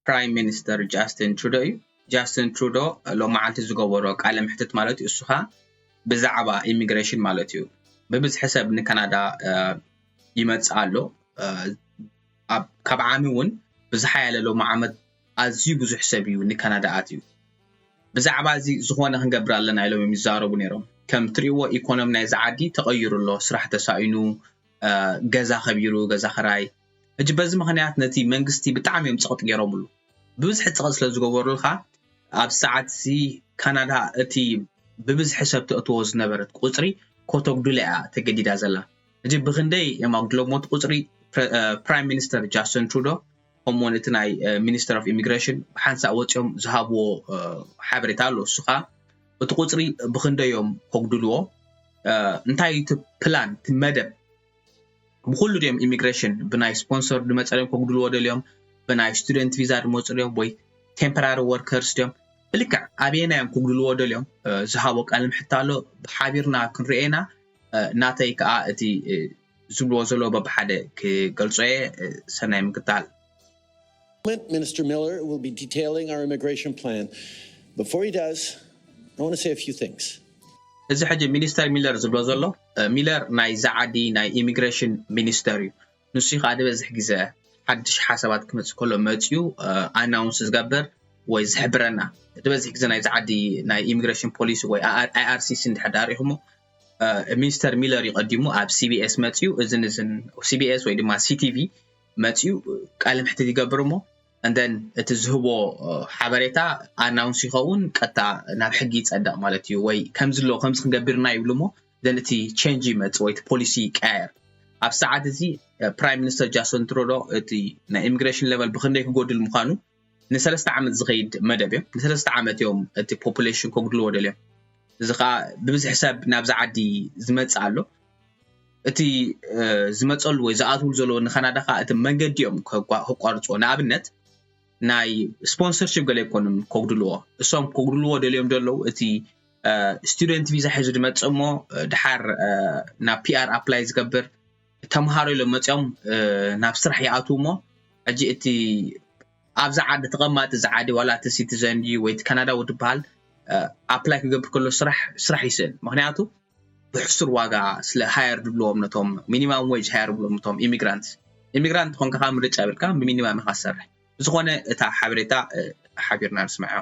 ፕራይም ሚኒስተር ጃስትን ትሩዶ እዩ። ጃስትን ትሩዶ ሎመዓልቲ ዝገበሮ ቃለ መሕትት ማለት እዩ እሱ ኸኣ ብዛዕባ ኢሚግሬሽን ማለት እዩ ብብዝሒ ሰብ ንካናዳ ይመጽእ ኣሎ ካብ ዓሚ እውን ብዝሓያለ ሎሚ ዓመት ኣዝዩ ብዙሕ ሰብ እዩ ንካናዳ ኣትዩ ብዛዕባ እዚ ዝኾነ ክንገብር ኣለና ኢሎም እዮም ይዛረቡ ነይሮም ከም ትሪእዎ ኢኮኖሚ ናይዚ ዓዲ ተቐይሩ ኣሎ ስራሕ ተሳኢኑ ገዛ ከቢሩ ገዛ ኸራይ ሕጂ በዚ ምኽንያት ነቲ መንግስቲ ብጣዕሚ እዮም ጸቕጥ ገይሮምሉ። ብብዝሒ ጸቕጥ ስለ ዝገበሩልካ ኣብዚ ሰዓትዚ ካናዳ እቲ ብብዝሒ ሰብ ተእትዎ ዝነበረት ቁጽሪ ኮተጉድላ እያ ተገዲዳ ዘላ። ሕጂ ብኽንደይ እዮም ኣጉድሎምዎ እቲ ቁጽሪ ፕራይም ሚኒስተር ጃስትን ትሩዶ ከምኡውን እቲ ናይ ሚኒስተር ኦፍ ኢሚግሬሽን ብሓንሳእ ወጺኦም ዝሃብዎ ሓበሬታ ኣሎ እሱ ኸኣ እቲ ቁጽሪ ብኽንደይ እዮም ከጉድልዎ እንታይ እዩ እቲ ፕላን እቲ መደብ ብኹሉ ድዮም ኢሚግሬሽን ብናይ ስፖንሰር ድመጸርዮም ከጉድልዎ ደልዮም ብናይ ስቱደንት ቪዛ ድመጹ ድዮም ወይ ቴምፐራሪ ወርከርስ ድዮም ብልክዕ ኣበየናይ እዮም ክጉድልዎ ደልዮም ዝሃቦ ቃል ምሕታ ኣሎ ብሓቢርና ክንርኦ ኢና ናተይ ከዓ እቲ ዝብልዎ ዘሎ በብሓደ ክገልጾ እየ ሰናይ ምክታል Parliament, Minister Miller will be detailing our immigration plan. Before he does, I want to say a few things. እዚ ሕጂ ሚኒስተር ሚለር ዝብሎ ዘሎ ሚለር ናይ ዛዓዲ ናይ ኢሚግሬሽን ሚኒስተር እዩ ንሱ ከዓ ዝበዝሕ ግዘ ሓድሽ ሓሳባት ክመፅእ ከሎ መፅኡ ኣናውንስ ዝገብር ወይ ዝሕብረና ዝበዝሕ ግዘ ናይ ዛዓዲ ናይ ኢሚግሬሽን ፖሊሲ ወይ ኣይኣርሲሲ እንድሕር ዳሪኹሞ ሚኒስተር ሚለር ይቀዲሙ ኣብ ሲቢኤስ መፅኡ እዝን እዝን ሲቢኤስ ወይ ድማ ሲቲቪ መፅዩ ቃለ መሕትት ይገብር እሞ and then እቲ ዝህቦ ሓበሬታ ኣናውንስ ይኸውን ቀጥታ ናብ ሕጊ ይጸድቕ ማለት እዩ ወይ ከምዚ ኣለዎ ከምዚ ክንገብርና ይብሉ እሞ ዘን እቲ ቼንጅ ይመጽእ ወይ እቲ ፖሊሲ ይቀያየር ኣብ ሰዓት እዚ ፕራይም ሚኒስተር ጃስን ትሮዶ እቲ ናይ ኢሚግሬሽን ሌቨል ብክንደይ ክጎድል ምዃኑ ንሰለስተ ዓመት ዝኸይድ መደብ እዮ። ንሰለስተ ዓመት እዮም እቲ ፖፑሌሽን ከጉድልዎ ደልዮም። እዚ ከዓ ብብዝሒ ሰብ ናብዚ ዓዲ ዝመጽእ ኣሎ። እቲ ዝመጸሉ ወይ ዝኣትውሉ ዘለዎ ንካናዳ ከዓ እቲ መንገዲ እዮም ከቋርጽዎ። ንኣብነት ናይ ስፖንሰርሽፕ ገለ ኣይኮኑን ከጉድልዎ። እሶም ከጉድልዎ ደልዮም ደለዉ እቲ ስቱደንት ቪዛ ሒዙ ድመጽእ እሞ ድሓር ናብ ፒኣር ኣፕላይ ዝገብር ተምሃሮ ኢሎም መጺኦም ናብ ስራሕ ይኣትዉ እሞ ሕጂ እቲ ኣብዚ ዓዲ ተቐማጢ እዚ ዓዲ ዋላ እቲ ሲቲዘን ድዩ ወይ እቲ ካናዳዊ ትበሃል ኣፕላይ ክገብር ከሎ ስራሕ ስራሕ ይስእን ምክንያቱ ብሕሱር ዋጋ ስለ ሃየር ድብልዎም ነቶም ሚኒማም ዌጅ ሃየር ብሎም ነቶም ኢሚግራንት ኢሚግራንት ኮንካ ከዓ ምርጫ የብልካ ብሚኒማም ኢኻ ዝሰርሕ ብዝኾነ እታ ሓበሬታ ሓቢርና ንስምዐዮ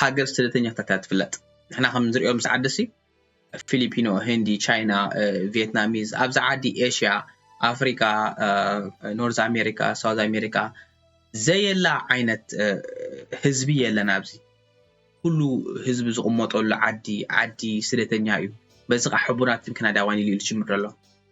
ሃገር ስደተኛታት እያ ትፍለጥ ንሕና ከም ንሪኦ ምስ ዓዲሲ ፊሊፒኖ ህንዲ ቻይና ቪየትናሚዝ ኣብዚ ዓዲ ኤሽያ ኣፍሪካ ኖርዝ ኣሜሪካ ሳውዝ ኣሜሪካ ዘየላ ዓይነት ህዝቢ የለን ኣብዚ ኩሉ ህዝቢ ዝቕመጠሉ ዓዲ ዓዲ ስደተኛ እዩ በዚ ከዓ ሕቡናትን ክናዳዋን ኢሉ ኢሉ ጅምር ኣሎ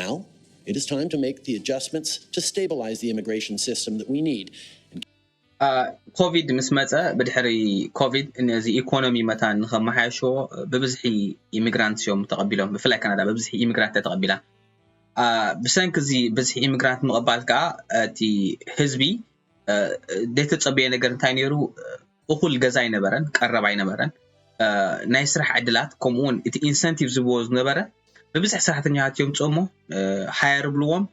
Now it is time to make the adjustments to stabilize the immigration system that we need and ኮቪድ ምስ መፀ ብድሕሪ ኮቪድ ነዚ ኢኮኖሚ መታን ንከመሓየሽዎ ብብዝሒ ኢሚግራንት እዮም ተቐቢሎም ብፍላይ ካናዳ ብብዝሒ ኢሚግራንት እያ ተቐቢላ ብሰንኪ እዚ ብዝሒ ኢሚግራንት ምቕባል ከዓ እቲ ህዝቢ ዘይተፀበየ ነገር እንታይ ነይሩ እኹል ገዛ ኣይነበረን፣ ቀረብ ኣይነበረን፣ ናይ ስራሕ ዕድላት ከምኡ እውን እቲ ኢንሰንቲቭ ዝብዎ ዝነበረ ብብዝሒ ሰራሕተኛታት የምፅኡ እሞ ሃየር ብልዎም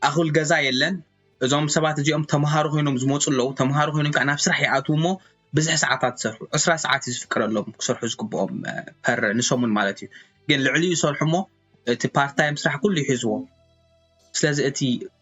ኣኹል ገዛ የለን እዞም ሰባት እዚኦም ተምሃሮ ኮይኖም ዝመፁ ኣለዉ ተምሃሮ ኮይኖም ከዓ ናብ ስራሕ ይኣትዉ እሞ ብዝሒ ሰዓታት ዝሰርሑ ዕስራ ሰዓት እዩ ዝፍቀደሎም ክሰርሑ ዝግብኦም ፐር ንሰሙን ማለት እዩ ግን ልዕሊኡ ይሰርሑ እሞ እቲ ፓርታይም ስራሕ ኩሉ ይሕዝዎ ስለዚ እቲ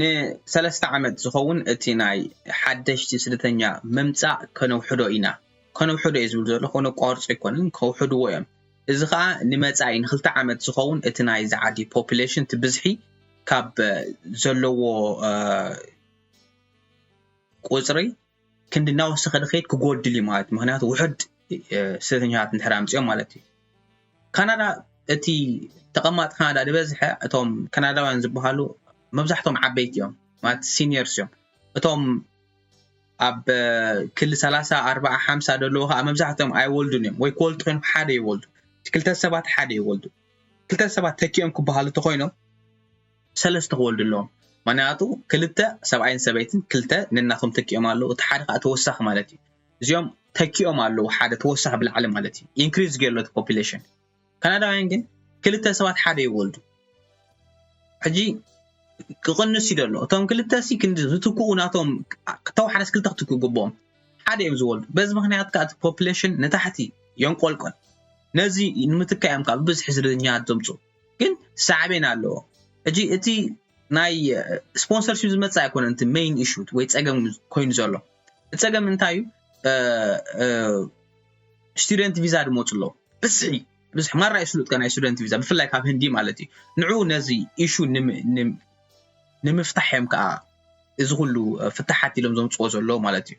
ንሰለስተ ዓመት ዝኸውን እቲ ናይ ሓደሽቲ ስደተኛ ምምጻእ ከነውሕዶ ኢና። ከነውሕዶ እየ ዝብል ዘለኹ፣ ከነቋርጾ ኣይኮነን፣ ከውሕድዎ እዮም። እዚ ከኣ ንመጻኢ ንክልተ ዓመት ዝኸውን እቲ ናይዚ ዓዲ ፖፕሌሽን እቲ ብዝሒ ካብ ዘለዎ ቁጽሪ ክንዲ እናወሰኸ ድኸይድ ክጎድል እዩ ማለት ምክንያቱ ውሑድ ስደተኛታት እንድሕር ኣምፅኦም ማለት እዩ ካናዳ እቲ ተቐማጥ ካናዳ ዝበዝሐ እቶም ካናዳውያን ዝበሃሉ መብዛሕቶም ዓበይቲ እዮም ማለት ሲኒየርስ እዮም እቶም ኣብ ክሊ ሰላሳ ኣርባዓ ሓምሳ ደለዎ ከዓ መብዛሕትኦም ኣይወልዱን እዮም ወይ ክወልዱ ኮይኖም ሓደ ይወልዱ እቲ ክልተ ሰባት ሓደ ይወልዱ ክልተ ሰባት ተኪኦም ክበሃሉ ተኮይኖም ሰለስተ ክወልዱ ኣለዎም ምክንያቱ ክልተ ሰብኣይን ሰበይትን ክልተ ነናቶም ተኪኦም ኣለዉ እቲ ሓደ ከኣ ተወሳኪ ማለት እዩ እዚኦም ተኪኦም ኣለዉ ሓደ ተወሳኪ ብላዕሊ ማለት እዩ increase ጌሩ ኣሎ እቲ population ካናዳውያን ግን ክልተ ሰባት ሓደ ይወልዱ ሕጂ ክቕንስ እዩ ዘሎ እቶም ክልተ ሲ ክንዲ ዝትክኡ ናቶም ተወሓደስ ክልተ ክትክኡ ግብኦም ሓደ እዮም ዝወልዱ በዚ ምክንያት ከዓ እቲ ፖፕሌሽን ንታሕቲ የንቆልቆል ነዚ ንምትካእ እዮም ከዓ ብብዝሒ ስደተኛታት ዘምፅኡ ግን ሳዕቤን ኣለዎ ሕጂ እቲ ናይ ስፖንሰርሺፕ ዝመጽእ ኣይኮነን እቲ ሜይን ኢሹ ወይ ጸገም ኮይኑ ዘሎ እቲ ጸገም እንታይ እዩ ስቱደንት ቪዛ ድመጹ ኣለዉ ብዝሒ ብዝሒ ማራ እዩ ስሉጥካ ናይ ስቱደንት ቪዛ ብፍላይ ካብ ህንዲ ማለት እዩ ንዕኡ ነዚ ኢሹ ንምፍታሕ እዮም ከዓ እዚ ኩሉ ፍታሓት ኢሎም ዘምፅዎ ዘለዉ ማለት እዩ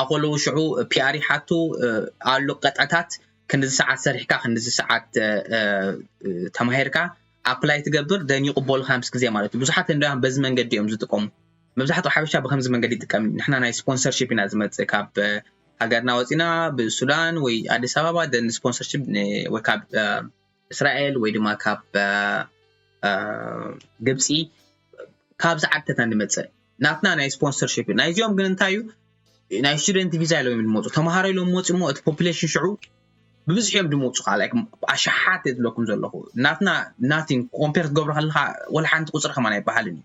ኣኮለዉ ሽዑ ፒኣር ይሓቱ ኣሉ ቀጥዕታት ክንድዚ ሰዓት ሰሪሕካ ክንድዚ ሰዓት ተማሂርካ ኣፕላይ ትገብር ደን ይቕበሉካ ምስ ግዜ ማለት እዩ ብዙሓት ህንዳውያን በዚ መንገዲ እዮም ዝጥቀሙ መብዛሕትኡ ሓበሻ ብከምዚ መንገዲ ይጥቀም ንሕና ናይ ስፖንሰርሺፕ ኢና ዝመፅእ ካብ ሃገርና ወፂና ብሱዳን ወይ ኣዲስ ኣበባ ደን ስፖንሰርሺፕ ወይ ካብ እስራኤል ወይ ድማ ካብ ግብፂ ካብዚ ዓድታት ንመፅእ ናትና ናይ ስፖንሰርሽፕ እዩ ናይዚኦም ግን እንታይ እዩ ናይ ስቱደንት ቪዛ ኢሎም ዝመፁ ተምሃሮ ኢሎም መፁ እሞ እቲ ፖፕሌሽን ሽዑ ብብዝሒ እዮም ዝመፁ ከዓ ላይክ ኣሽሓት እየ ዝብለኩም ዘለኹ ናትና ናቲን ኮምፔር ክትገብሮ ከለካ ወላ ሓንቲ ቁፅሪ ከማን ኣይበሃልን እዩ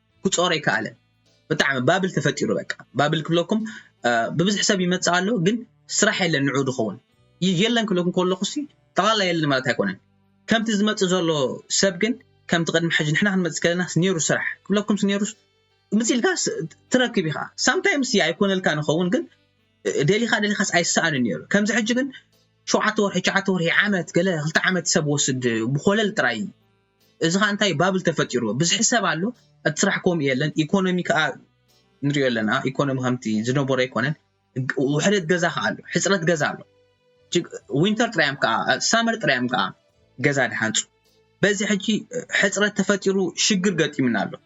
ክጾሮ ኣይከኣለን ብጣዕሚ ባብል ተፈጢሩ በቃ ባብል ክብለኩም ብብዝሕ ሰብ ይመጽእ ኣሎ ግን ስራሕ የለን ንዑ ዝኸውን የለን ክብለኩም ከለኹ ሲ ጠቕላላ የለን ማለት ኣይኮነን ከምቲ ዝመጽእ ዘሎ ሰብ ግን ከምቲ ቅድሚ ሕጂ ንሕና ክንመጽእ ከለና ነይሩ ስራሕ ክብለኩም ነይሩ ምጽኢልካ ትረክብ ኢኻ ሳምታይምስ ኣይኮነልካ ንኸውን ግን ደሊኻ ደሊኻስ ኣይሰኣንን ነይሩ ከምዚ ሕጂ ግን ሸውዓተ ወርሒ ሸዓተ ወርሒ ዓመት ገለ ክልተ ዓመት ሰብ ወስድ ብኮለል ጥራይ እዚ ከኣ እንታይ ባብል ተፈጢርዎ ብዝሒ ሰብ ኣሎ እቲ ስራሕ ከምኡ የለን ኢኮኖሚ ከኣ ንሪኦ ኣለና ኢኮኖሚ ከምቲ ዝነበሮ ኣይኮነን ውሕደት ገዛ ከኣ ኣሎ ሕፅረት ገዛ ኣሎ ዊንተር ጥራዮም ከኣ ሳመር ጥራዮም ከኣ ገዛ ድሓንፁ በዚ ሕጂ ሕፅረት ተፈጢሩ ሽግር ገጢምና ኣሎ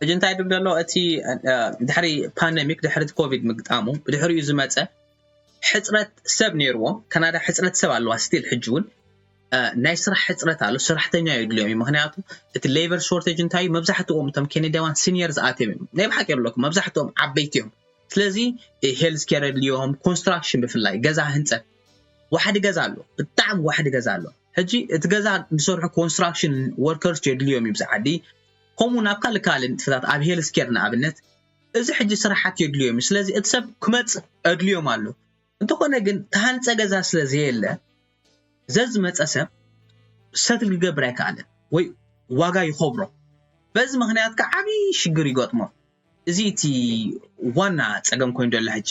ሕጂ እንታይ ድብ ዘሎ እቲ ድሕሪ ፓንደሚክ ድሕሪ እቲ ኮቪድ ምግጣሙ ብድሕሪኡ ዝመፀ ሕፅረት ሰብ ነይርዎም ካናዳ ሕፅረት ሰብ ኣለዋ ስቲል ሕጂ እውን ናይ ስራሕ ሕፅረት ኣሎ ሰራሕተኛ የድልዮም እዩ ምክንያቱ እቲ ሌበር ሾርቴጅ እንታይ እዩ መብዛሕትኦም እቶም ኬኔዳዋን ሲኒየር ዝኣትዮም እዮም ናይ ብሓቂ የብለኩም መብዛሕትኦም ዓበይቲ እዮም ስለዚ ሄልዝ ኬር የድልዮም ኮንስትራክሽን ብፍላይ ገዛ ህንፀት ዋሕዲ ገዛ ኣሎ ብጣዕሚ ዋሕዲ ገዛ ኣሎ ሕጂ እቲ ገዛ ዝሰርሑ ኮንስትራክሽን ወርከርስ የድልዮም እዩ ብዛዓዲ ከምኡውን ኣብ ካልእ ካልእ ንጥፈታት ኣብ ሄልዝ ኬር ንኣብነት እዚ ሕጂ ስራሓት የድልዮም እዩ ስለዚ እቲ ሰብ ክመጽእ ኣድልዮም ኣሎ እንተኾነ ግን ተሃንጸ ገዛ ስለ ዘየለ ዘዝመጸ ሰብ ሰትል ክገብር ኣይከኣለን ወይ ዋጋ ይኸብሮ በዚ ምክንያት ከዓ ዓብዪ ሽግር ይገጥሞ እዚ እቲ ዋና ፀገም ኮይኑ ዘሎ ሕጂ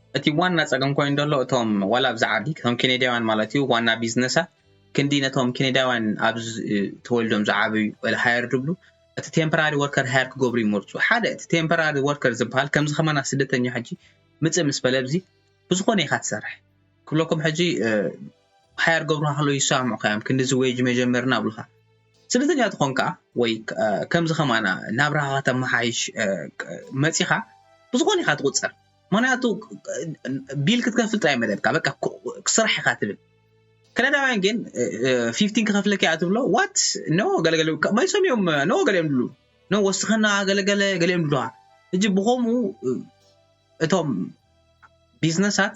እቲ ዋና ጸገም ኮይኑ ደሎ እቶም ዋላ ኣብዚ ዓዲ ከም ኬኔዳውያን ማለት እዩ ዋና ቢዝነሳት ክንዲ ነቶም ኬኔዳውያን ኣብ ተወልዶም ዝዓበዩ ሃየር ድብሉ እቲ ቴምፖራሪ ወርከር ሃየር ክገብሩ ይመርጹ ሓደ እቲ ቴምፖራሪ ወርከር ዝበሃል ከምዚ ከማና ስደተኛ ሕጂ ምጽእ ምስ በለ ብዚ ብዝኾነ ኢኻ ትሰርሕ ክብለኩም ሕጂ ሃየር ገብሩ ሃሎ ይሰማምዑ ከዮም ክንዲዚ ወጅ መጀመርና ብልኻ ስደተኛ ትኾን ከዓ ወይ ከምዚ ከማና ናብራኻ ከተመሓይሽ መጺኻ ብዝኾነ ኢኻ ትቁጸር ምክንያቱ ቢል ክትከፍል ጥራይ መደብካ በቃ ስራሕ ኢካ ትብል ከነዳውያን ግን ፊፍቲን ክከፍለካ እያ ትብሎ ዋት ኖ ገለገለ መሊሶም እዮም ኖ ገሊኦም ድሉ ኖ ወስኸና ገለገለ ገሊኦም ድሉዋ እጅ ብከምኡ እቶም ቢዝነሳት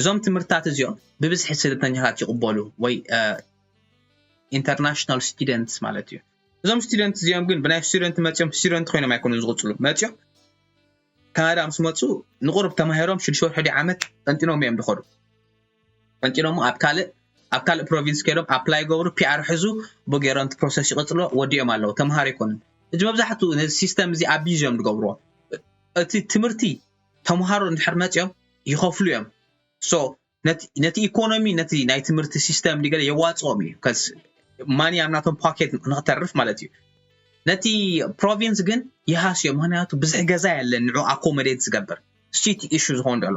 እዞም ትምህርትታት እዚኦም ብብዝሒ ስደተኛታት ይቕበሉ ወይ ኢንተርናሽናል ስቱደንትስ ማለት እዩ እዞም ስቱደንት እዚኦም ግን ብናይ ስቱደንት መፅኦም ስቱደንት ኮይኖም ኣይኮኑ ዝቕፅሉ መፅኦም ካናዳ ምስ መፁ ንቑርብ ተማሂሮም ሽዱሽተ ወርሒ ዲ ዓመት ጠንጢኖም እዮም ዝኸዱ ጠንጢኖሞ ኣብ ካልእ ኣብ ካልእ ፕሮቪንስ ከይዶም ኣፕላይ ገብሩ ፒኣር ሕዙ ብገይሮም እቲ ፕሮሰስ ይቕፅሎ ወዲኦም ኣለዉ ተምሃሮ ኣይኮኑን እዚ መብዛሕትኡ ነዚ ሲስተም እዚ ኣቢዝ እዮም ዝገብርዎ እቲ ትምህርቲ ተምሃሮ እንድሕር መጽዮም ይኸፍሉ እዮም so ነቲ ኢኮኖሚ ነቲ ናይ ትምህርቲ ሲስተም ዲገለ የዋጽኦም እዩ ከስ ማኒ ኣብ ናቶም ፓኬት ንክተርፍ ማለት እዩ ነቲ ፕሮቪንስ ግን ይሃስዮ ምክንያቱ ብዝሒ ገዛ የለን ንዑ ኣኮመዴት ዝገብር ስቲ ኢሹ ዝኸውን ዘሎ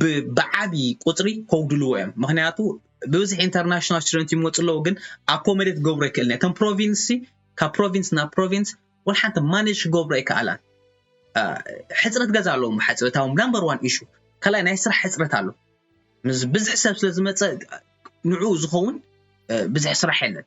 ብ ብዓቢ ቁጽሪ ከውድልዎ እዮም ምክንያቱ ብብዝሒ ኢንተርናሽናል ስቱደንት ይመጹ ኣለዉ ግን ኣኮመዴት ክገብሮ ኣይክእልን እተን ፕሮቪንስ ካብ ፕሮቪንስ ናብ ፕሮቪንስ ወላ ሓንቲ ማኔጅ ክገብሮ ኣይከኣላን ሕፅረት ገዛ ኣለዎም ብሓፂ እታ ናምበር ዋን ኢሹ ካልኣይ ናይ ስራሕ ሕፅረት ኣሎ ምስ ብዝሒ ሰብ ስለ ዝመፀ ንዕኡ ዝኸውን ብዝሒ ስራሕ የለን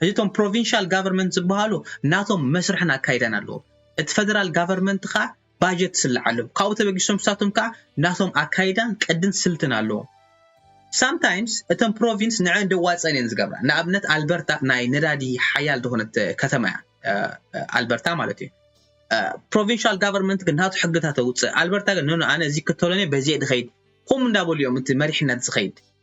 ሕዚ እቶም ፕሮቪንሻል ጋቨርመንት ዝበሃሉ ናቶም መስርሕን ኣካይዳን ኣለዎም። እቲ ፈደራል ጋቨርመንት ከኣ ባጀት ትስልዓሎም። ካብኡ ተበጊሶም ንሳቶም ከኣ ናቶም ኣካይዳን ቅድን ስልትን ኣለዎም። ሳምታይምስ እተን ፕሮቪንስ ንዐን ደዋጸን እየን ዝገብራ። ንኣብነት ኣልበርታ ናይ ነዳዲ ሓያል ዝኾነት ከተማ እያ። ኣልበርታ ማለት እዩ። ፕሮቪንሻል ጋቨርመንት ግን ናቱ ሕግታት ኣውጽእ። ኣልበርታ ግን ኖኖ ኣነ እዚ ክተሎኔ በዚየ ድኸይድ ኹም እንዳበሉ እዮም እቲ መሪሕነት ዝኸይድ።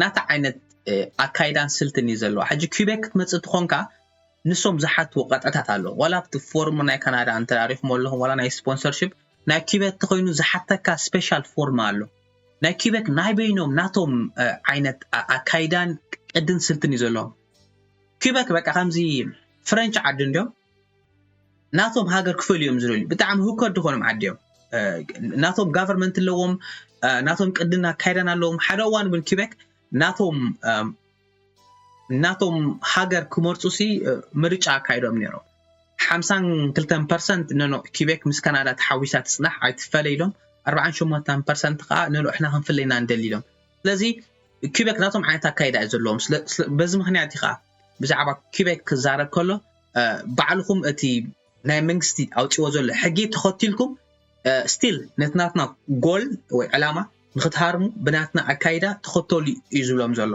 ናታ ዓይነት ኣካይዳን ስልትን እዩ ዘለዎ ሕጂ ኪቤክ ክትመጽእ ትኾንካ ንሶም ዝሓትዎ ቀጥዕታት ኣሎ ዋላ ኣብቲ ፎርም ናይ ካናዳ እንተራሪኹሞ ኣለኹም ዋላ ናይ ስፖንሰርሺፕ ናይ ኪቤክ ተኾይኑ ዝሓተካ ስፔሻል ፎርም ኣሎ ናይ ኪቤክ ናይ በይኖም ናቶም ዓይነት ኣካይዳን ቅድን ስልትን እዩ ዘለዎም ኪቤክ በቃ ከምዚ ፍረንች ዓዲ እንዲዮም ናቶም ሃገር ክፈል እዮም ዝደልዩ ብጣዕሚ ህውከት ድኾኖም ዓዲ እዮም ናቶም ጋቨርንመንት ኣለዎም ናቶም ቅድን ኣካይዳን ኣለዎም ሓደ እዋን እውን ኪበክ ናቶም ናቶም ሃገር ክመርፁ ሲ ምርጫ ኣካይዶም ነይሮም ሓምሳን ክልተን ፐርሰንት ነኖ ኪቤክ ምስ ካናዳ ተሓዊሳ ትፅናሕ ኣይትፈለ ኢሎም ኣርባዓን ሸሞንተን ፐርሰንት ከዓ ነኖ እሕና ክንፍለይና ንደሊ ኢሎም ስለዚ ኪበክ ናቶም ዓይነት ኣካይዳ እዩ ዘለዎም በዚ ምክንያት እዩ ከዓ ብዛዕባ ኪበክ ክዛረብ ከሎ ባዕልኹም እቲ ናይ መንግስቲ ኣውፅዎ ዘሎ ሕጊ ተኸቲልኩም ስቲል ነቲ ናትና ጎል ወይ ዕላማ ንክትሃርሙ ብናትና ኣካይዳ ተኸተሉ እዩ ዝብሎም ዘሎ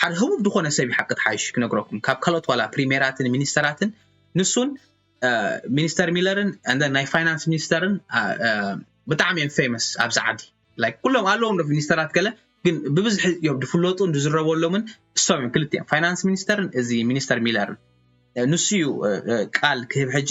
ሓደ ህቡብ ዝኾነ ሰብ ሓቂ ትሓይሽ ክነግረኩም ካብ ካልኦት ዋላ ፕሪሜራትን ሚኒስተራትን ንሱን ሚኒስተር ሚለርን ን ናይ ፋይናንስ ሚኒስተርን ብጣዕሚ እዮም ፌመስ ኣብዚ ዓዲ ላይክ ኩሎም ኣለዎም ዶ ሚኒስተራት ገለ ግን ብብዝሒ እዮም ዝፍለጡን ዝዝረበሎምን እሶም እዮም ክልቲኦም ፋይናንስ ሚኒስተርን እዚ ሚኒስተር ሚለርን ንሱ እዩ ቃል ክህብ ሕጂ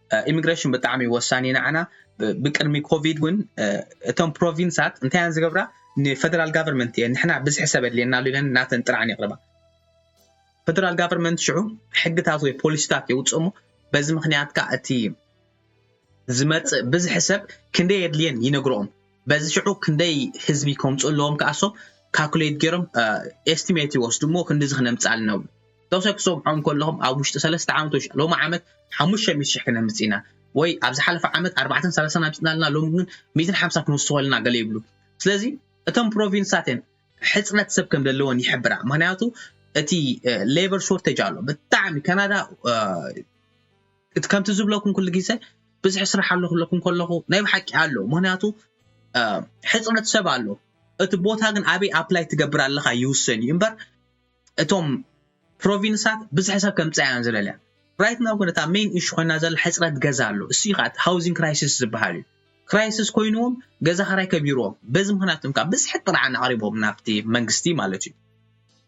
ኢሚግሬሽን ብጣዕሚ ወሳኒ እዩ ንዓና ብቅድሚ ኮቪድ እውን እቶም ፕሮቪንሳት እንታይ እየን ዝገብራ ንፈደራል ጋቨርንመንት እየን ንሕና ብዝሒ ሰብ ኣድልየና ኣሎ ኢለን ናተን ጥራዕን የቕርባ ፈደራል ጋቨርንመንት ሽዑ ሕግታት ወይ ፖሊሲታት የውፅእ እሞ በዚ ምክንያት ከዓ እቲ ዝመፅእ ብዝሒ ሰብ ክንደይ የድልየን ይነግረኦም በዚ ሽዑ ክንደይ ህዝቢ ከምፁ ኣለዎም ከኣሶ ካልኩሌት ገይሮም ኤስቲሜት ይወስዱ እሞ ክንዲዚ ክነምፅእ ኣለና ብሉ ተወሳኪ ክትሰምዖም ከለኹም ኣብ ውሽጢ ሰለስተ ዓመት ወይ ሎሚ ዓመት ሓሙሽተ ሚእቲ ሽሕ ክነምፅእ ኢና ወይ ኣብ ዝሓለፈ ዓመት ኣርባዕተን ሰላሳን ኣምፅና ኣለና ሎሚ ግን ሚእትን ሓምሳ ክንውስኮ ኣለና ገለ ይብሉ ስለዚ እቶም ፕሮቪንስታት እየን ሕፅረት ሰብ ከም ዘለወን ይሕብራ ምክንያቱ እቲ ሌበር ሾርቴጅ ኣሎ ብጣዕሚ ካናዳ እቲ ከምቲ ዝብለኩም ኩሉ ግዜ ብዝሒ ስራሕ ኣሎ ክብለኩም ከለኹ ናይ ብሓቂ ኣሎ ምክንያቱ ሕፅረት ሰብ ኣሎ እቲ ቦታ ግን ኣበይ ኣፕላይ ትገብር ኣለካ ይውሰን እዩ እምበር እቶም ፕሮቪንሳት ብዝሒ ሰብ ከምፅኣ እያን ዝደልያ ራይት ናው ግን እታ ሜን ኢሹ ኮይና ዘላ ሕፅረት ገዛ ኣሎ እሱ እዩ ከዓ እቲ ሃውዚንግ ክራይሲስ ዝበሃል እዩ ክራይሲስ ኮይኑዎም ገዛ ክራይ ከቢርዎም በዚ ምክንያት እዮም ከዓ ብዝሒ ጥርዓን ኣቕሪቦም ናብቲ መንግስቲ ማለት እዩ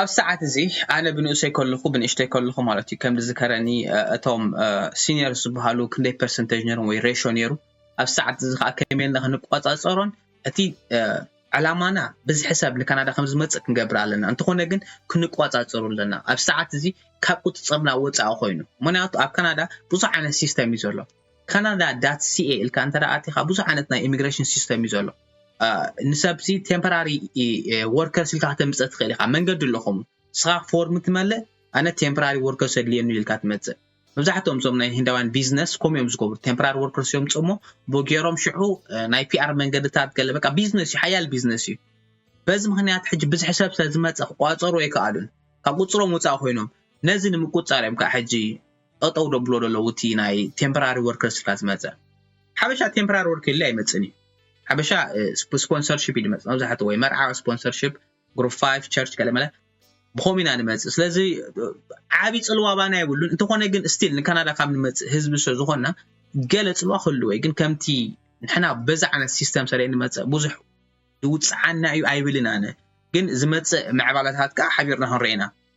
ኣብዚ ሰዓት እዚ ኣነ ብንኡሰይ ከለኹ ብንእሽተይ ከለኹ ማለት እዩ ከም ዝዝከረኒ እቶም ሲኒየር ዝበሃሉ ክንደይ ፐርሰንቴጅ ነይሮም ወይ ሬሾ ነይሩ ኣብ ሰዓት እዚ ከዓ ከመይ ኢልና ክንቆፃፀሮን እቲ ዕላማና ብዝሒ ሰብ ንካናዳ ከም ዝመፅእ ክንገብር ኣለና እንተኾነ ግን ክንቆፃፀሩ ኣለና ኣብ ሰዓት እዚ ካብ ቁፅፅርና ወፃኢ ኮይኑ ምክንያቱ ኣብ ካናዳ ብዙሕ ዓይነት ሲስተም እዩ ዘሎ ካናዳ ዳት ሲኤ ኢልካ እንተ ኣቲኻ ብዙሕ ዓይነት ናይ ኢሚግሬሽን ሲስተም እዩ ዘሎ ንሰብሲ ቴምፖራሪ ወርከርስ ኢልካ ከተምፅእ ትኽእል ኢኻ መንገዲ ኣለኹም ንስኻ ፎርም ትመልእ ኣነ ቴምፖራሪ ወርከርስ ኣድልየኒ ኢልካ ትመፅእ መብዛሕትኦም እዞም ናይ ህንዳውያን ቢዝነስ ከምኡ እዮም ዝገብሩ ቴምፖራሪ ወርከርስ እዮም ፅሞ ቦጌሮም ሽዑ ናይ ፒኣር መንገድታት ገለ በቃ ቢዝነስ እዩ ሓያል ቢዝነስ እዩ በዚ ምክንያት ሕጂ ብዝሒ ሰብ ስለ ዝመፀ ክቋፀሩ ኣይከኣሉን ካብ ቁፅሮም ወፃእ ኮይኖም ነዚ ንምቁፃር እዮም ከዓ ሕጂ ጠጠው ደብሎ ደለዉ እቲ ናይ ቴምፖራሪ ወርከርስ ድካ ዝመፀ ሓበሻ ቴምፖራሪ ወርክ የለ ኣይመፅን እዩ ሓበሻ ስፖንሰርሽፕ እዩ ድመፅ መብዛሕትኡ ወይ መርዓ ስፖንሰርሽፕ ግሩፕ 5 ቸርች ገለመለ ብኸምኡ ኢና ንመፅእ ስለዚ ዓብዪ ፅልዋ ባና የብሉን እንተኾነ ግን ስቲል ንካናዳ ካብ ንመፅእ ህዝቢ ስለ ዝኾንና ገለ ፅልዋ ክህልዎ እዩ ግን ከምቲ ንሕና በዛ ዓይነት ሲስተም ሰለ ንመፅእ ብዙሕ ይውፅዓና እዩ ኣይብልን ኣነ ግን ዝመፅእ ምዕባለታት ከዓ ሓቢርና ክንርኤና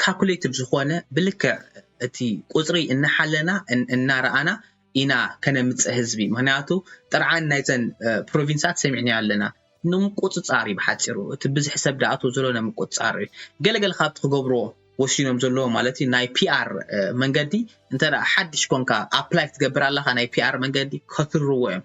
ካልኩሌቲቭ ዝኾነ ብልክዕ እቲ ቁፅሪ እናሓለና እናረኣና ኢና ከነምፅእ ህዝቢ ምኽንያቱ ጥርዓን ናይዘን ፕሮቪንሳት ሰሚዕናዮ ኣለና። ንምቁፅፃር እዩ ብሓፂሩ እቲ ብዝሒ ሰብ ድኣትዎ ዘሎ ንምቁፅፃር እዩ ገለገለ ካብቲ ክገብርዎ ወሲኖም ዘለዎ ማለት እዩ ናይ ፒኣር መንገዲ እንተ ሓድሽ ኮንካ ኣፕላይ ክትገብር ኣለኻ ናይ ፒኣር መንገዲ ከትርርዎ እዮም።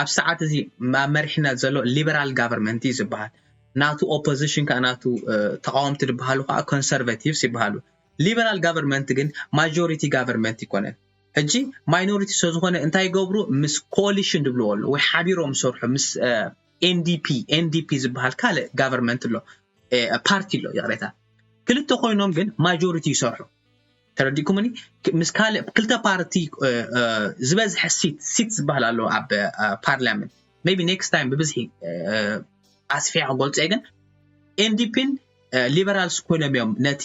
ኣብዚ ሰዓት እዚ ኣብ መሪሕነት ዘሎ ሊበራል ጋቨርመንት እዩ ዝበሃል ናቱ ኦፖዚሽን ከዓ ናቱ ተቃወምቲ ዝበሃሉ ከዓ ኮንሰርቨቲቭስ ይበሃሉ ሊበራል ጋቨርመንት ግን ማጆሪቲ ጋቨርመንት ይኮነን ሕጂ ማይኖሪቲ ስለ ዝኾነ እንታይ ይገብሩ ምስ ኮሊሽን ዝብልዎ ኣሎ ወይ ሓቢሮም ዝሰርሑ ምስ ኤንዲፒ ኤንዲፒ ዝበሃል ካልእ ጋቨርመንት ኣሎ ፓርቲ ኣሎ ይቕሬታ ክልተ ኮይኖም ግን ማጆሪቲ ይሰርሑ ተረዲእኩምኒ ምስ ካልእ ክልተ ፓርቲ ዝበዝሐ ሲት ሲት ዝበሃል ኣሎ ኣብ ፓርላመንት ቢ ኔክስት ታይም ብብዝሒ ኣስፊያ ክገልፆ እየ ግን ኤንዲፒን ሊበራልስ ኮይኖም እዮም ነቲ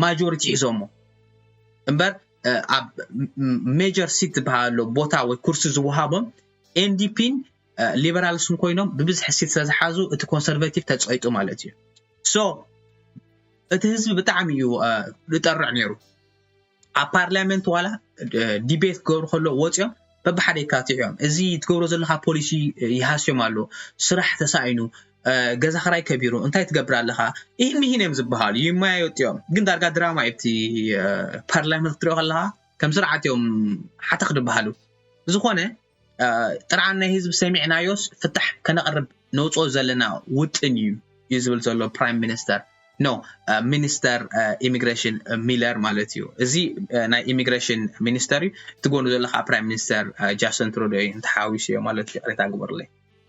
ማጆሪቲ ሒዞሞ እምበር ኣብ ሜጀር ሲት ዝበሃል ኣሎ ቦታ ወይ ኩርሲ ዝወሃቦም ኤንዲፒን ሊበራልስን ኮይኖም ብብዝሒ ሲት ስለዝሓዙ እቲ ኮንሰርቬቲቭ ተፀይጡ ማለት እዩ ሶ እቲ ህዝቢ ብጣዕሚ እዩ ዝጠርዕ ነይሩ ኣብ ፓርላመንት ዋላ ዲቤት ክገብሩ ከሎ ወፂኦም በብሓደ ይካትዑ እዮም እዚ ትገብሮ ዘለካ ፖሊሲ ይሃስዮም ኣሎ ስራሕ ተሳኢኑ ገዛ ክራይ ከቢሩ እንታይ ትገብር ኣለካ ይህን ይህን እዮም ዝበሃሉ ይመያየጡ እዮም ግን ዳርጋ ድራማ እዩ እቲ ፓርላመንት ክትሪኦ ከለካ ከም ስርዓት እዮም ሓተኽ ዝበሃሉ ዝኾነ ጥርዓን ናይ ህዝቢ ሰሚዕናዮስ ፍታሕ ከነቕርብ ነውፅኦ ዘለና ውጥን እዩ እዩ ዝብል ዘሎ ፕራይም ሚኒስተር ኖ ሚኒስተር ኢሚግሬሽን ሚለር ማለት እዩ እዚ ናይ ኢሚግሬሽን ሚኒስተር እዩ እቲ ጎኑ ዘሎ ከዓ ፕራይም ሚኒስተር ጃስን ትሩዶ እዩ እንተሓዊሱ እዮ ማለት እዩ ቅሬታ ግበርለይ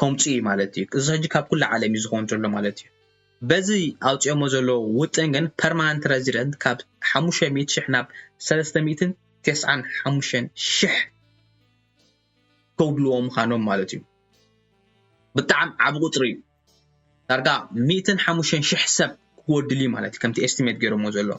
ከምጽኡ እዩ ማለት እዩ። እዚ ሕጂ ካብ ኩሉ ዓለም እዩ ዝኸውን ዘሎ ማለት እዩ። በዚ ኣውጺኦሞ ዘለዉ ውጥን ግን ፐርማናንት ረዚደንት ካብ ሓሙሽተ ሚእቲ ሽሕ ናብ ሰለስተ ሚእትን ተስዓን ሓሙሽተን ሽሕ ከውድልዎ ምኻኖም ማለት እዩ። ብጣዕሚ ዓቢ ቁጽሪ እዩ። ዳርጋ ሚእትን ሓሙሽተን ሽሕ ሰብ ክጎድል እዩ ማለት እዩ ከምቲ ኤስቲሜት ገይሮሞ ዘለዉ።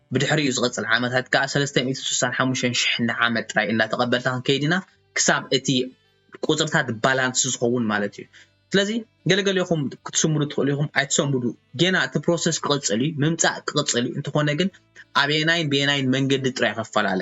ብድሕሪኡ ዝቕጽል ዓመታት ከኣ ሰለስተ ሚእትን ስሳን ሓሙሽተን ሽሕን ንዓመት ጥራይ እንዳተቐበልታ ክንከይድ ኢና ክሳብ እቲ ቁጽርታት ባላንስ ዝኸውን ማለት እዩ ስለዚ ገለገሌኹም ክትስምዱ ትኽእሉ ኢኹም ኣይትሰምዱ ጌና እቲ ፕሮሰስ ክቕጽል እዩ ምምጻእ ክቕጽል እዩ እንተኾነ ግን ኣበየናይን በየናይን መንገዲ ጥራይ ኸፈላለ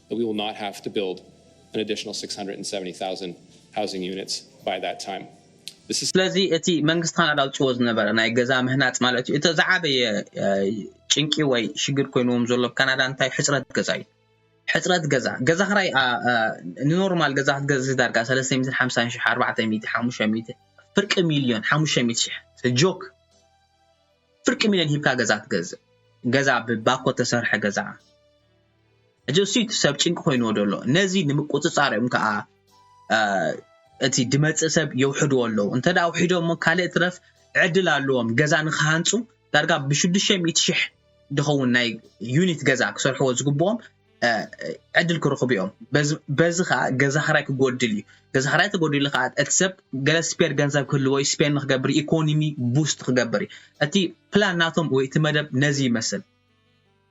that we will not have to build an additional 670,000 housing units by that time. This is. ስለዚ እቲ መንግስቲ ካናዳ ኣውጺዎ ዝነበረ ናይ ገዛ ምህናጽ ማለት እዩ እቲ ዝዓበየ ጭንቂ ወይ ሽግር ኮይንዎም ዘሎ ኣብ ካናዳ እንታይ ሕጽረት ገዛ እዩ። ሕጽረት ገዛ ገዛ ክራይ ንኖርማል ገዛ ክትገዝእ ዳርጋ 350 ሽሕ 400 500 ፍርቂ ሚልዮን 500 ሽሕ ጆክ ፍርቂ ሚልዮን ሂብካ ገዛ ትገዝእ ገዛ ብባኮ ተሰርሐ ገዛ ሕጂ እሱይ እቲ ሰብ ጭንቂ ኮይንዎ ዘሎ ነዚ ንምቁጽጻር እዮም ከኣ እቲ ድመጽእ ሰብ የውሕድዎ ኣለዉ እንተ ኣውሒዶሞ ካልእ ትረፍ ዕድል ኣለዎም ገዛ ንክሃንጹ ዳርጋ ብሽዱሽተ ሚእቲ ሽሕ ድኸውን ናይ ዩኒት ገዛ ክሰርሕዎ ዝግብኦም ዕድል ክረኽቡ እዮም በዚ ከኣ ገዛ ክራይ ክጎድል እዩ ገዛ ክራይ ተጎዲሉ ከኣ እቲ ሰብ ገለ ስፔር ገንዘብ ክህልዎ እዩ ስፔር ንክገብር ኢኮኖሚ ቡስት ክገብር እዩ እቲ ፕላን ናቶም ወይ እቲ መደብ ነዚ ይመስል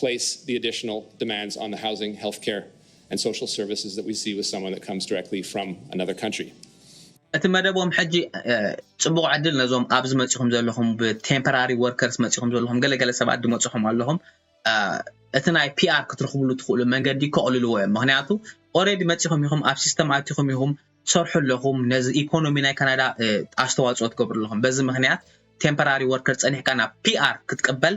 place the additional demands on the housing, health care, and social services that we see with someone that comes directly from another country. እቲ መደቦም ሕጂ ጽቡቕ ዕድል ነዞም ኣብዚ መጺኹም ዘለኹም ብቴምፖራሪ ወርከርስ መጺኹም ዘለኹም ገለገለ ሰባት ድመጽኹም ኣለኹም እቲ ናይ ፒኣር ክትረኽብሉ ትኽእሉ መንገዲ ከቕልልዎ እዮም ምክንያቱ ኦረዲ መጺኹም ኢኹም ኣብ ሲስተም ኣቲኹም ኢኹም ትሰርሑ ኣለኹም ነዚ ኢኮኖሚ ናይ ካናዳ ኣስተዋፅኦ ትገብሩ ኣለኹም በዚ ምክንያት ቴምፖራሪ ወርከር ጸኒሕካ ናብ ፒኣር ክትቅበል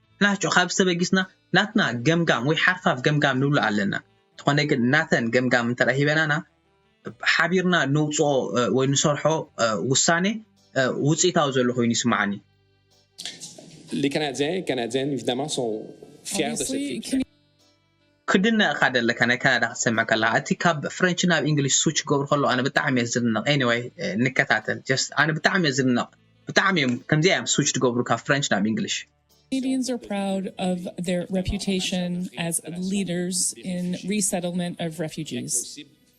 ናቹ ካብዚ ተበጊስና ናትና ገምጋም ወይ ሓርፋፍ ገምጋም ንብሎ ኣለና። እንተኾነ ግን ናተን ገምጋም እንተድኣ ሂበናና ሓቢርና ነውጽኦ ወይ ንሰርሖ ውሳኔ ውጽኢታዊ ዘሎ ኮይኑ ይስምዓኒ። Les Canadiens et Canadiennes, évidemment, sont fiers de cette équipe. ክድነቅ እካ ደለካ ናይ ካናዳ ክትሰምዕ ከለካ እቲ ካብ ፍረንች ናብ እንግሊሽ ስዊች ክገብሩ ከለዉ ኣነ ብጣዕሚ እየ ዝድነቅ ኤኒወይ ንከታተል ጀስት ኣነ ብጣዕሚ እየ ዝድነቅ ብጣዕሚ እዮም ከምዚኣ እዮም ስዊች ዝገብሩ ካብ ፍረንች ናብ እንግሊሽ Canadians are proud of their reputation as leaders in resettlement of refugees.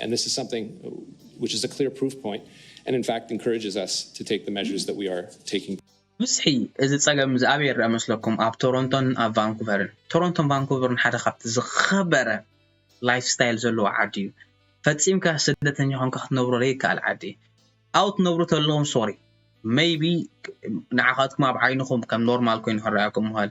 And this is something which is a clear proof point and in fact encourages us to take the measures that we are taking. ብዝሒ እዚ ጸገም እዚ ኣበይ ይርኣ መስለኩም? ኣብ ቶሮንቶን ኣብ ቫንኩቨርን። ቶሮንቶን ቫንኩቨርን ሓደ ካብቲ ዝኸበረ ላይፍ ስታይል ዘለዎ ዓዲ እዩ። ፈጺምካ ስደተኛ ኮንካ ክትነብሮ ዘይከኣል ዓዲ እዩ። ኣብኡ ትነብሩ ተለኹም ሶሪ ሜይቢ ንዓኻትኩም ኣብ ዓይንኹም ከም ኖርማል ኮይኑ ክረኣየኩም ይኽእል።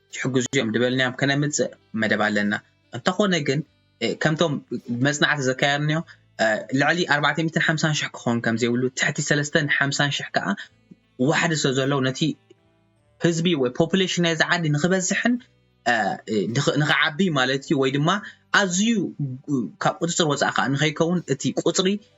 ዝሕግዙ እዮም ድበልናዮም ከነምጽእ መደብ ኣለና እንተኾነ ግን ከምቶም መጽናዕቲ ዘካየርንዮ ልዕሊ ኣርባዕተ ሚእትን ሓምሳን ሽሕ ክኸውን ከም ዘይብሉ ትሕቲ ሰለስተን ሓምሳን ሽሕ ከዓ ዋሕዲ ስለ ዘለዉ ነቲ ህዝቢ ወይ ፖፑሌሽን ናይዚ ዓዲ ንክበዝሕን ንክዓቢ ማለት እዩ ወይ ድማ ኣዝዩ ካብ ቁፅፅር ወፃኢ ከዓ ንከይከውን እቲ ቁፅሪ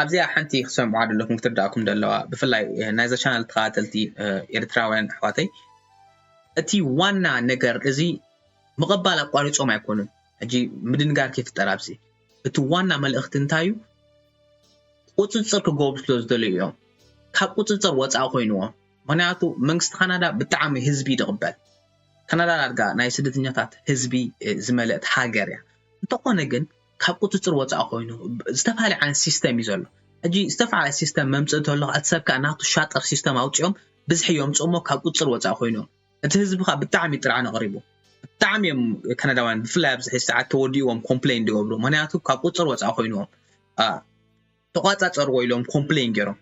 ኣብዚኣ ሓንቲ ክትሰምዑዋ ደለኩም ክትርድኣኩም ደለዋ ብፍላይ ናይዛ ቻነል ተኸታተልቲ ኤርትራውያን ኣሕዋተይ እቲ ዋና ነገር እዚ ምቕባል ኣቋሪጾም ኣይኮኑን ሕጂ ምድንጋር ከይፍጠር ኣብዚ እቲ ዋና መልእኽቲ እንታይ እዩ ቁጽጽር ክገብሩ ስለ ዝደለዩ እዮም ካብ ቁጽጽር ወጻኢ ኮይኑዎም ምክንያቱ መንግስቲ ካናዳ ብጣዕሚ ህዝቢ እዩ ዝቕበል ካናዳ ዳርጋ ናይ ስደተኛታት ህዝቢ ዝመለእት ሃገር እያ እንተኾነ ግን ካብ ቁጽጽር ወጻኢ ኮይኑ ዝተፋላለየ ዓይነት ሲስተም እዩ ዘሎ ሕጂ ዝተፋላለየ ሲስተም መምጽእ እንተሎ እቲ ሰብ ከኣ ናቱ ሻጥር ሲስተም ኣውጺኦም ብዝሒ የምጽኡ እሞ ካብ ቁጽጽር ወጻኢ ኮይኑ እቲ ህዝቢ ከኣ ብጣዕሚ እዩ ጥርዓን ኣቕሪቡ ብጣዕሚ እዮም ከነዳውያን ብፍላይ ኣብዚ ሕጂ ሰዓት ተወዲእዎም ኮምፕሌን ዝገብሩ ምክንያቱ ካብ ቁጽጽር ወጻኢ ኮይኑዎም ተቋጻጸርዎ ኢሎም ኮምፕለይን ጌሮም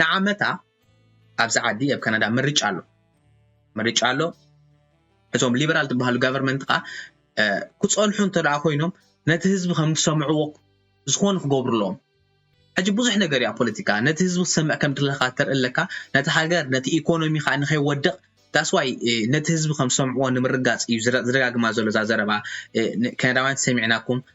ንዓመታ ኣብዚ ዓዲ ኣብ ካናዳ ምርጫ ኣሎ ምርጫ ኣሎ እቶም ሊበራል ዝበሃሉ ጋቨርመንት ከዓ ክፀንሑ እንተደኣ ኮይኖም ነቲ ህዝቢ ከም ዝሰምዕዎ ዝኾነ ክገብሩ ኣለዎም ሕጂ ብዙሕ ነገር እያ ፖለቲካ ነቲ ህዝቢ ክሰምዕ ከም ድለካ ተርኢ ኣለካ ነቲ ሃገር ነቲ ኢኮኖሚ ከዓ ንከይወድቕ ዳስዋይ ነቲ ህዝቢ ከም ዝሰምዕዎ ንምርጋፅ እዩ ዝደጋግማ ዘሎ እዛ ዘረባ ከነዳውያን ሰሚዕናኩም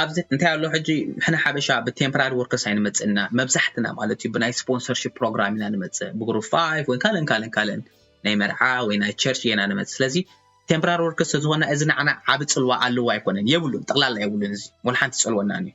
ኣብዚ እንታይ ኣሎ ሕጂ ሕነ ሓበሻ ብቴምፖራሪ ወርከስ ኣይንመፅእ ኢና መብዛሕትና ማለት እዩ ብናይ ስፖንሰርሽፕ ፕሮግራም ኢና ንመፅእ ብግሩፕ ፋይቭ ወይ ካልእን ካልእን ካልእን ናይ መርዓ ወይ ናይ ቸርች ኢና ንመፅእ ስለዚ ቴምፖራሪ ወርከስ ተዝኾና እዚ ንዓና ዓብ ፅልዋ ኣለዎ ኣይኮነን የብሉን ጠቕላላ የብሉን እዚ ወላ ሓንቲ ፀልወናን እዩ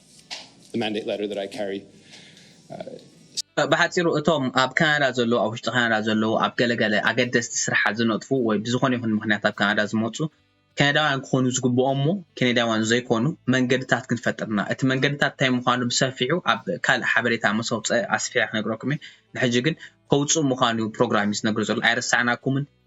ብሓጺሩ እቶም ኣብ ካናዳ ዘለዉ፣ ኣብ ውሽጢ ካናዳ ዘለዉ ኣብ ገለ ገለ ኣገደስቲ ስርሓት ዝነጥፉ ወይ ብዝኾነ ይኹን ምኽንያት ኣብ ካናዳ ዝመጹ ከነዳውያን ክኾኑ ዝግብኦም እሞ ከነዳውያን ዘይኮኑ መንገድታት ክንፈጥር እና እቲ መንገድታት እንታይ ምዃኑ ብሰፊሑ ኣብ ካልእ ሓበሬታ ምስ ኣውጸ ኣስፊሐ ክነግረኩም እየ ንሕጂ ግን ከውጽእ ምዃኑ ፕሮግራም እዩ ዝነግር ዘሎ ኣይረሳዕናኩምን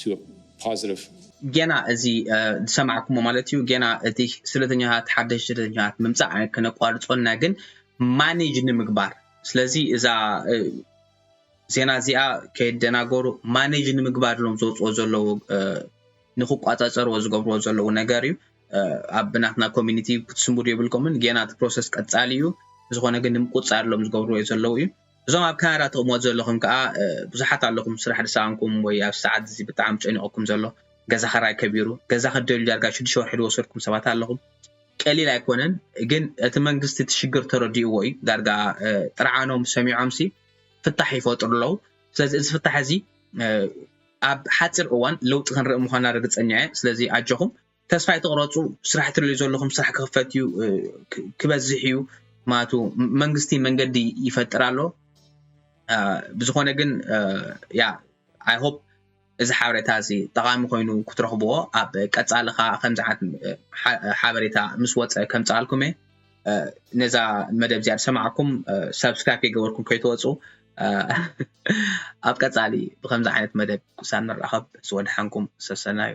to a positive ጌና እዚ ዝሰማዕኩሞ ማለት እዩ ጌና እቲ ስደተኛታት ሓደሽ ስደተኛታት ምምፃእ ክነቋርፆ እና ግን ማኔጅ ንምግባር ስለዚ እዛ ዜና እዚኣ ከየደናገሩ ማኔጅ ንምግባር ሎም ዘውፅኦ ዘለዉ ንክቋፃፀርዎ ዝገብርዎ ዘለዉ ነገር እዩ ኣብ ናትና ኮሚኒቲ ክትስምዱ የብልኩምን ጌና እቲ ፕሮሰስ ቀፃሊ እዩ ዝኾነ ግን ንምቁፃር ሎም ዝገብርዎ ዘለዉ እዩ እዞም ኣብ ካናዳ ትቅመጡ ዘለኹም ከኣ ብዙሓት ኣለኹም ስራሕ ዝሰኣንኩም ወይ ኣብዚ ሰዓት እዚ ብጣዕሚ ጨኒቁኩም ዘሎ ገዛ ክራይ ከቢሩ ገዛ ክትደልዩ ዳርጋ ሽዱሽተ ወርሒ ዝወሰድኩም ሰባት ኣለኹም ቀሊል ኣይኮነን ግን እቲ መንግስቲ እቲ ሽግር ተረዲእዎ እዩ ዳርጋ ጥርዓኖም ሰሚዖምሲ ፍታሕ ይፈጥሩ ኣለዉ ስለዚ እዚ ፍታሕ እዚ ኣብ ሓፂር እዋን ለውጢ ክንርኢ ምዃንና ርግፀኛ እየ ስለዚ ኣጆኹም ተስፋ ኣይትቕረጹ ስራሕ ትደልዩ ዘለኹም ስራሕ ክኽፈት እዩ ክበዝሕ እዩ ማቱ መንግስቲ መንገዲ ይፈጥር ኣሎ ብዝኾነ ግን ያ ኣይ ሆፕ እዚ ሓበሬታ እዚ ጠቓሚ ኮይኑ ክትረኽብዎ ኣብ ቀጻሊ ከዓ ከምዚ ዓት ሓበሬታ ምስ ወፀ ከምፅኣልኩም እየ ነዛ መደብ እዚኣ ዝሰማዕኩም ሰብስክራይብ ከይገበርኩም ከይትወፁ ኣብ ቀጻሊ ብከምዚ ዓይነት መደብ ክሳብ ንራኸብ ዝወድሓንኩም ሰሰናዩ